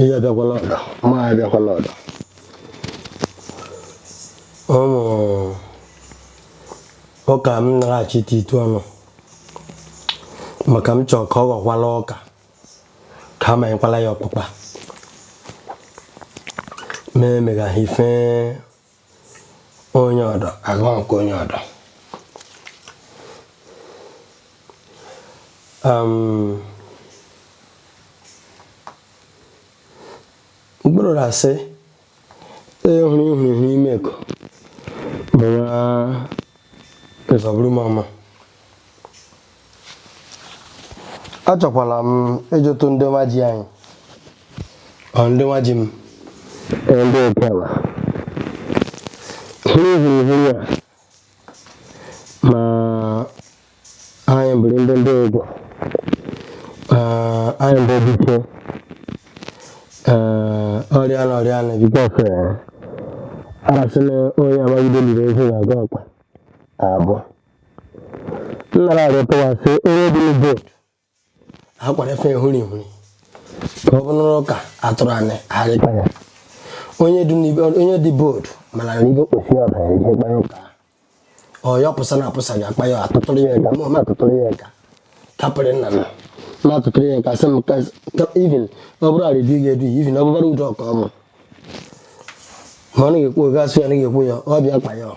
ihe abịakwala ọdọ ma abịakwala ọdọ ụmụ ụka m na-achịtetụ ọnụ maka m chọrọ ka ọ ghọkwala ọka ka a manyekwala ya ọkpụkpa ma emegaghị ife onye ọdọ agụọ nke onye ọdọ um, mkpụrụ na-asị onye hụrụ ihuru ihu ime eko bụ nwa nzọbụrụ mama achọkwala m ịjụtụ ndị nwa ji anyị ọ ndị nwa ji m ee, ndị okewa ihe hụrụ ihu ya ma anyị bụrụ ndị ndị egwu ee, anyị bụ biko ee, ọrịa na ọrịa na because arasị na onye amaghị ebe e liri ozu na-aga ọkpa abọ nnara arịọ pụwa sị onye dị na board ha kwara efe ehuri ehuri ka ọ bụrụ ụka atụrụ anyị arị kpa ya onye dị n'ibe onye dị board mana na ibe kposi ya ọbara ihe kpanye ụka ọ ya pụsa na apụsa ya akpa ya atụtụrụ ya aka ma ọ ma atụtụrụ ya aka kapịrị nna m ma atụtụrụ ya aka sị m ka even ọ bụrụ arịdị ga-edu ya even ọ bụbara udo ọka ọ bụ ma ọ na-ekwu oge asụ ya na ekwu ya ọ bịa kpa ya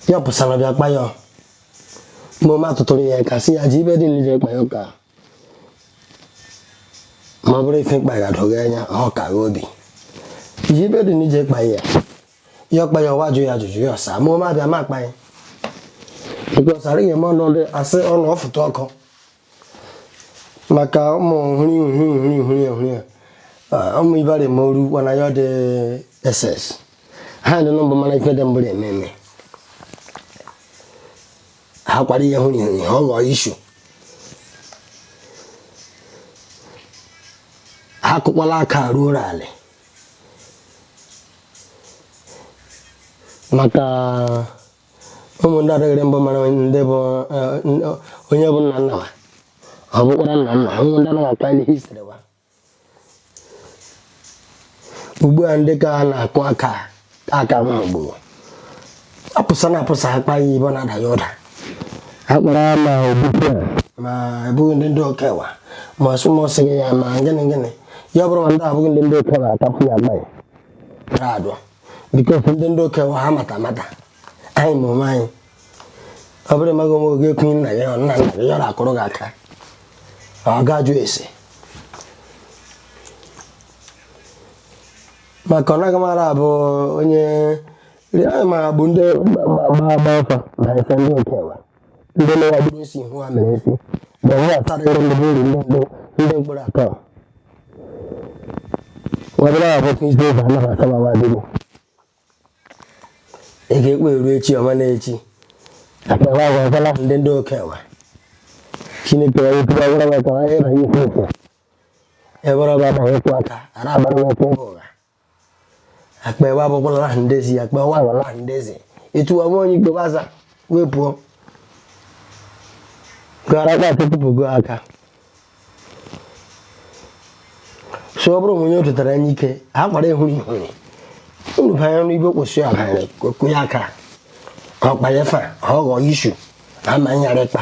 ya pụsara bịa kpa ya ma ọ ma atụtụrụ ya aka sị ya ji ibe dị nlije kpa ya ụka ma ọ bụrụ ife mkpa ya doga anya ọ ka obi ji ibe dị nlije kpa ya ya ọ kpa ya ọwa jụ ya ajụjụ ya ọ sa ma ọ ma abịa ma akpa ya because arị ga ma ọnọdụ asị ọnụ ọ fụta ọkụ maka ụmụ hụrụ ihu hụrụ ihu hụrụ ihu hụrụ ihu ụmụ ibara eme oru kwana ya dị ss ha dị nọmba mana ife dị mbụrụ eme eme ha kwara ihe hụrụ ihu ha ghọọ issue ha kụkwala aka ruo ala maka ụmụ ndị adịghịrị mbụ mara ndị bụ onye bụ nna nna ọ bụkwara nna nna ụmụ ndị anaghị akpa ihe history wa ugbu a ndị ka a na-akụ aka aka nwa gburu apụsa na apụsa akpa ya ibe na-ada ya ụda akpara ma ogbukwe ma abụghị ndị ndị okewa ma ọsụmọsị gị ya ma gịnị gịnị ya bụrụ ma ndị abụghị ndị ndị okewa atapụ ya mgbe ya adụ because ndị ndị Okenwa ha mata mata anyị ma onwe anyị ọ bụrụ ịmaghị onwe gị ikwu nna gị ọ nna nna gị yọrọ akụrụ gị aka ọ ga-ajụ ese maka ọ naghị mara abụ onye rịa ma bụ ndị ma ma ma fa na-asị ndị Okenwa ndị na-agbụrụ isi ihu ha mere isi ma ọ na-atara ndị mmadụ uru ndị mmadụ ndị mkpụrụ atọ wabụrụ ya bụ kristi ụzọ anaghị akabawa adịgbo ị ga-ekweru echi ọma na echi akpawa agwa ọbụla ndị ndị Okenwa chineke ya wepụrụ ọbụla maka onye na ikwu okwu ebe ọba agbaghị okwu aka ara agbara okwu ụgha akpa ebe abụkwala laha ndezi akpa nwa ala laha ndezi etu ọnwa onye igbo baza wee pụọ gara akpa atụtụpụgo aka so ọ bụrụ onye o tetara anya ike a kwara ihuri unu banye ọnụ ibo kwụsị ọha kụnye aka ọkpa ya fa ọ gaa ishu ama nyara ịkpa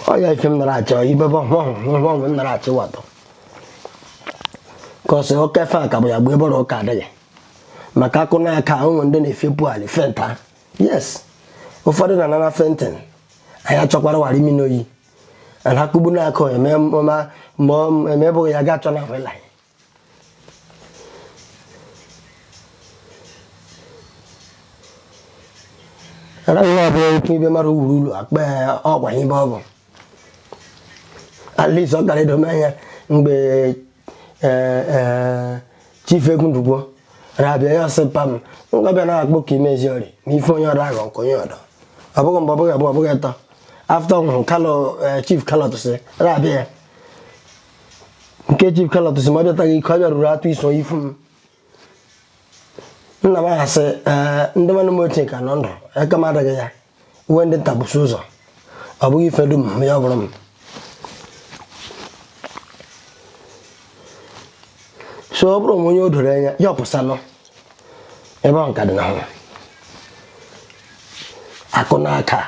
ọ ya ife m nara achọ ibe bụ ọhụrụ m nara achọ watọ cause oke fe ka bụ ya gbuo ebe ọrụ ụka adịghị maka akụ na aka o nwe ndị na-efepụ ali fenta yes ụfọdụ na anara fainting a ya achọkwara wara mini oyi and akụgbu na akụ emebụghị ya ga achọ na wela nwa ọbụla oke ibe mara wuru ulu akpa ọgwa ibe ọ bụ at least ọ gara edome anya mgbe chief Egwu Ndukwo rabịa ya sị pam ngabịa na akpọ ka imezi ori ma ife onye ọrụ aghọ nke onye ọdọ ọ bụghị mgbe ọ bụghị abụọ ọ bụghị atọ after ọ Kalu chief Kalu Otisi rabịa ya Nke chief Kalu Otisi m abịataghị iko abịa ruru atụ iso ife m nna m aha sị ee ndị nwanne m ochie ka nọ ndụ aka m adịghị ya nwe ndị ta bụsi ụzọ ọ bụghị ife dum m ya ọ bụrụ m so ọ bụrụ m onye o doro anya ya ọpụsanụ ebe ahụ ka dị na hụ akụ n'aka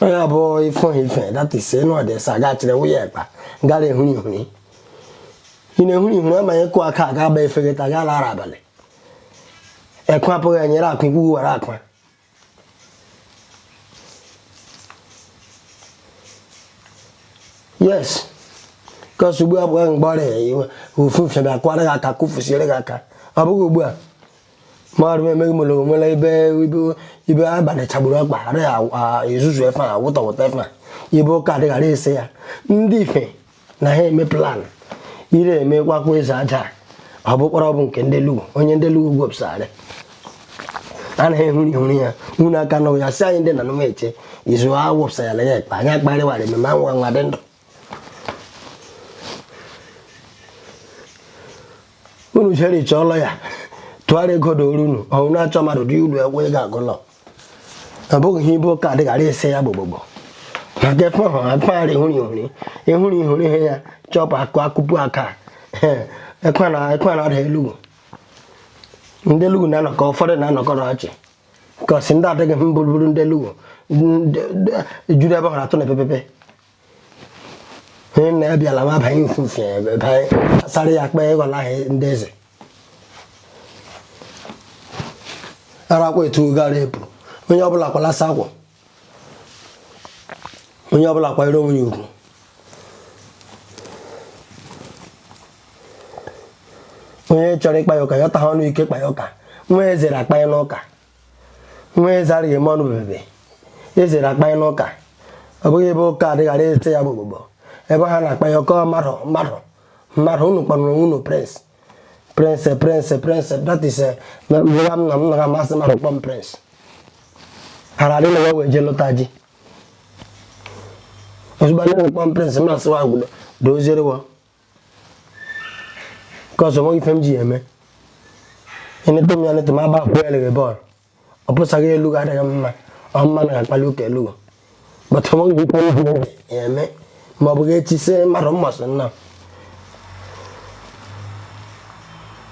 ọ ya bụ ife ife that is n'ọdị sị a ga-achịrị nwunye ekpa gara ehuri ihuri ị na-ehuri ihuri amaghị ịkụ aka a ga-agba ife ta gaa lara abalị ekwe apụghị enyere akwa ikwu were akwa yes because ugbu a bụ mgbe ọrịa iwe ofu mfe bịa kwara gị aka kụfusiere gị aka ọ bụghị ugbu a mmadụ emeghị mụrụ onwere ebe ibe ibe abalị chagburu akpa ghara a- ezuzu efe a wụta wụta efe a ibe ụka adịghara ese ya ndị ife na ha eme plan ire eme kwakwa eze aja ọ bụkwara ọ bụ nke ndị elugu onye ndị elugu gwepụsarị anaghị ehuri ehuri ya unu aka nụ ya si anyị ndị na nụma eche izu a wụpụsara ya ekpe anyị akparịwara ememe anwụ anwa dị ndụ unu jere iche ọlọ ya tụgharịa ego dị oru unu ọhụrụ na-achọ mmadụ dị ulu egwe ị ga-agụlọ ọ bụghị ihe ibu ụka adịghara ese ya gbogbogbo na gefe hụ akpagharị hụrụ ihụrụ ịhụrụ ihụrụ ihe ya chọpụ akụ akụpu aka ekwe na ekwe na ada elugu ndị elugu na-anọkọ ụfọdụ na-anọkọ n'ọchị cause ndị adịghị mbụrụbụrụ ndị elugu ndị- ndị- juru ebe hụrụ atụ na epepepe ihe nna ya bịala ma banye nfufe ebe banye asara ya akpa ego na ahịa ndị eze arakwa etu gara ebu onye ọbụla kwalasa akwa onye ọbụla kwanyere onwe ya ugwu onye chọrọ ịkpa ya ụka ya ọta ha ọnụ ike kpa ya ụka nwa ezere akpa ya n'ụka nwa eze adịghị eme ọnụ bebebe ezere akpa ya n'ụka ọ bụghị ebe ụka adịghara ese ya gbogbogbo ebe ha na-akpa ya ọkọ mmadụ mmadụ mmadụ unu kpọrọ unu prince prince prince prince that is eh, na mgbe m na m naghị asị mmadụ kpọ m prince hara adị na ya wee jee lụta ji ozugbo anyị na-ekpọ m prince m asị wa gwudo doziere wa cause nweghị ife m ji ya eme enete m ya nete m agba akwụ ya lere bọọlụ ọ pụsaghị elugu adịghị mma ọ mma na akpali ụka elugu but nweghị ife m ji ya eme ma ọ bụghị echi sị mmadụ mmasị nna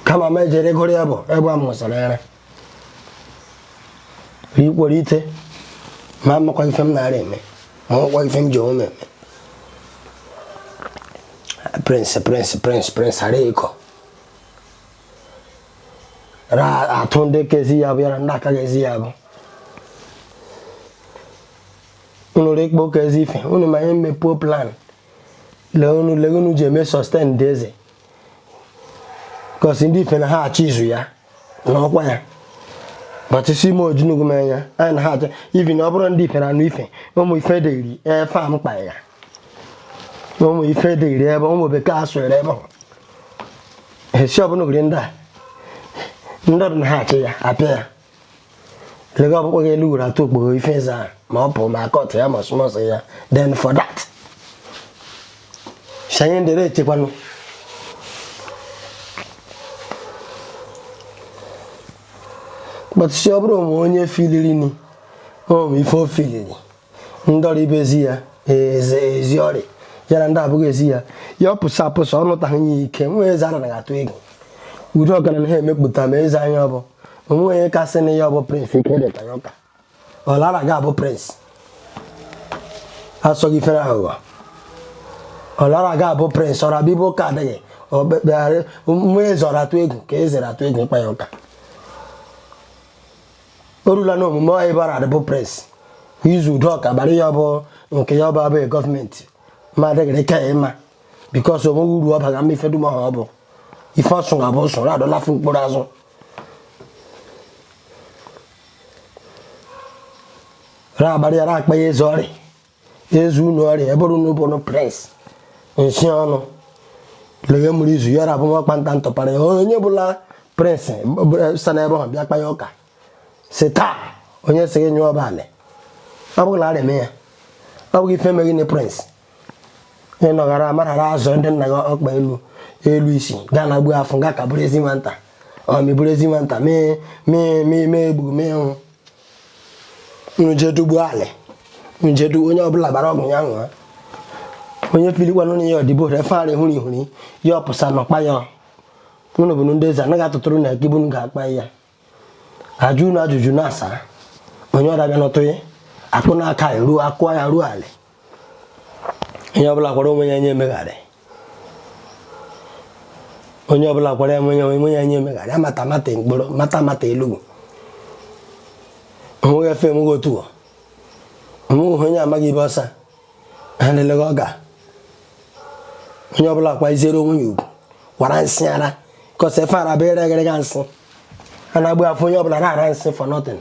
kama m ejere gụrụ ya bụ ebe a mụsara ya ikwere ite ma amakwa ife m na-ara eme ma ọkwa ife m ji onwe m eme prince prince prince prince ara ịkọ ra atụ ndị kezi ya bụ yara ndị aka ga-ezi ya bụ unu rikpo ka ezi ife unu ma ihe mmepuo plan lee unu lee unu ji eme sustain ndị eze cause ndị ife na ha achọ izu ya na ọkwa ya but sị m ojinugu mee ya anyị na ha achọ even ọ bụrụ ndị ife na anụ ife ụmụ ife dịrị efe a mkpa ya ụmụ ife dịrị ebe ụmụ bekee asụrụ ebe esi ọbụla ogiri ndị a ndị ọdụ na ha achị ya apịa ya lega ọkpụkpọ gị elu were atụ okpogho ife eze ahụ ma ọ pụrụ ma court ya ma summons ya then for that shanye ndere echekwanụ but sị ọ bụrụ o nwe onye filiri ni o nwe ife o filiri ndị ọrụ ibe ezi ya ezi ori ya na ndị abụghị ezi ya ya ọ pụsa apụsa ọ nụtaghị ya ike nwa eze ara na-atụ egwu udo ọgaranya ha emepụta ma eze anya ọ bụ o nwe onye kasị na ya ọ bụ prince ike dịta ya ụka ọlara ga-abụ prince asọghị ifere aghụghọ ọlara ga-abụ prince ọra bịbụ ụka adịghị ọkpekpegharị nwa eze ọra atụ egwu ka eze atụ egwu ịkpa ya ụka o rula n'omume ọ ịbara adịbụ prince izu udo ọka bara ya bụ nke ya ọba abụghị government ma adịghịrị ka ya ịma because o nweghị uru ọ baga mma ife dum ọha ọ bụ ife ọsụ ga bụ sụrụ adọlafu mkpụrụ azụ ra abalị ya ra akpa ya ezu ori ezu unu ori ọ bụrụ unu bụ nụ prince nsi ọnụ lege mụrụ izu ya rabụ nwa kpanta ntọpara ya onye bụla prince sa na ebe ahụ bịa kpa ya ụka si taa onye si gị nyụọ ọbalị ọ bụghị na arịa ya ọ bụghị ife meghị na prince ị nọgara amarara azụ ndị nna gị ọkpa elu elu isi gaa na gbuo afọ gaa ka bụrụ ezi nwata ọ mebụrụ ezi nwata mee egbugo mee nwụ unu jee dogbuo alị unu jee dogbuo onye ọbụla gbara ọgwụ ya ṅụọ onye pilikwanụ na ya ọdịbo efe ara hụrụ ihuri ya ọ pụsa nọkpa ya unu bụ ndị eze anaghị atụtụrụ na gị bunu ga-akpa ya ajụ unu ajụjụ na-asa onye ọrịa bịa nọtụ ya akụ n'aka ya ruo akwa ya ruo alị onye ọbụla kwara onwe ya nye emegharị onye ọbụla kwara onwe ya nye emegharị amata mata mkpụrụ mata mata elugwu o nweghị efe enweghị otu o nweghị onye amaghị ibe ọsa ha na-eleghị ọ ga onye ọbụla kwaziere onwe ya ugwu kwara nsị ara kọsa efe ara bụ ere eghere ga nsị a na-agba afọ onye ọbụla na-ara nsị for nothing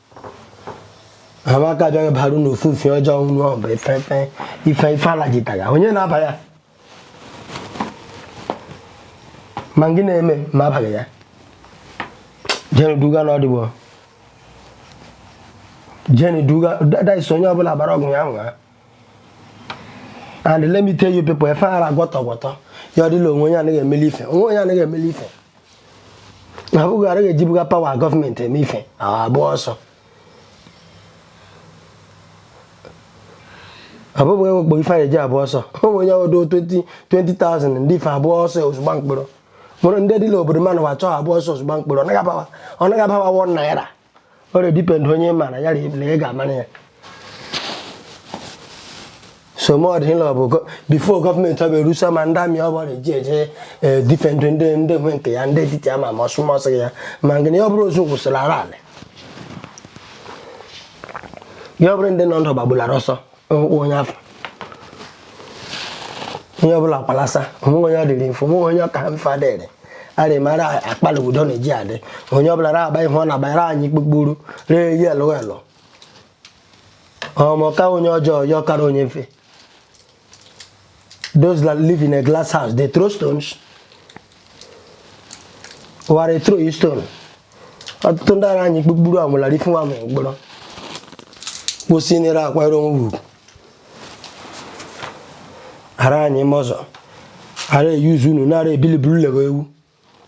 ha ma aka bịa baru na ofufe ọjọọ unu ọ bụ ife ife ife ife alajitara onye na-aba ya ma gị na-eme ma abaghị ya jenu duga na ọdịbo jenu duga that is onye ọbụla gbara ọgwụ ya ṅụa and let me tell you people efe ara gwọtọ gwọtọ ya ọ dịla o nwe onye anaghị emeli ife o nwe onye anaghị emeli ife na bụghị araghị ejibuga power government eme ife agba ọsọ ọ bụghị enwe kpọrọ ife anyị eji agba ọsọ o nwere onye ọdụ 20,000 ndị ife agba ọsọ ozugbo mkpụrụ mụrụ ndị dịla obodo mmanụ wa chọọ agba ọsọ ozugbo mkpụrụ ọ naghị abawa ọ naghị abawa wọ naira ọ ra-edepend onye ị mara ya na ị ga-amara ya somodịla bụ before government ọ bụ erusa ma ndị army ọbụla eji eje edefend ndị ndị nwe nke ya ndị dịtị ama ma ọsụmọsị ya ma nke na ya ọ bụrụ ozu wụsala ra alị ya ọ bụrụ ndị nọ ndụ gbagbulara ọsọ ọkpụ onye afọ onye ọbụla kwalasa o nweghị onye ọ dịrị mfe o nweghị onye ọ ka mfe adịrị arị mara akpala udo na-eji adị onye ọbụla ra-agba ihe ọ na-agbara anyị kpukpuru ree ya elu elu ọ maka onye ọjọọ ya ọ kara onye mfe those that live in a glass house they throw stones wa ra-ethrow you stone ọtụtụ ndị ara anyị kpukpuru amụlari fún amụ mkpọrọ kwụsị nere akwara onwe ugwu ara anyị mọzọ a ra-euse unu nara ebiliburulego ewu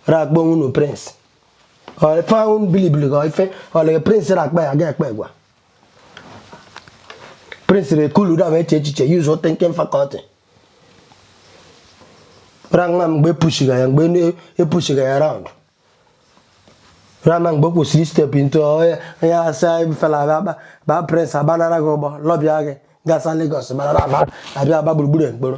rakpọ nwunu prince ife ahụ bilibili ka ife ọlege prince rakpa ya ga ekpe gwa prince re cool down chee echiche use thinking faculty ra-ama mgbe epushiga ya mgbe epushiga ya around ra-ama mgbe kwesịrị step into onye asa fela abịa ba prince abanara gị ụgbọ lobby gị gasa Lagos abịa agba gburugburu ekporo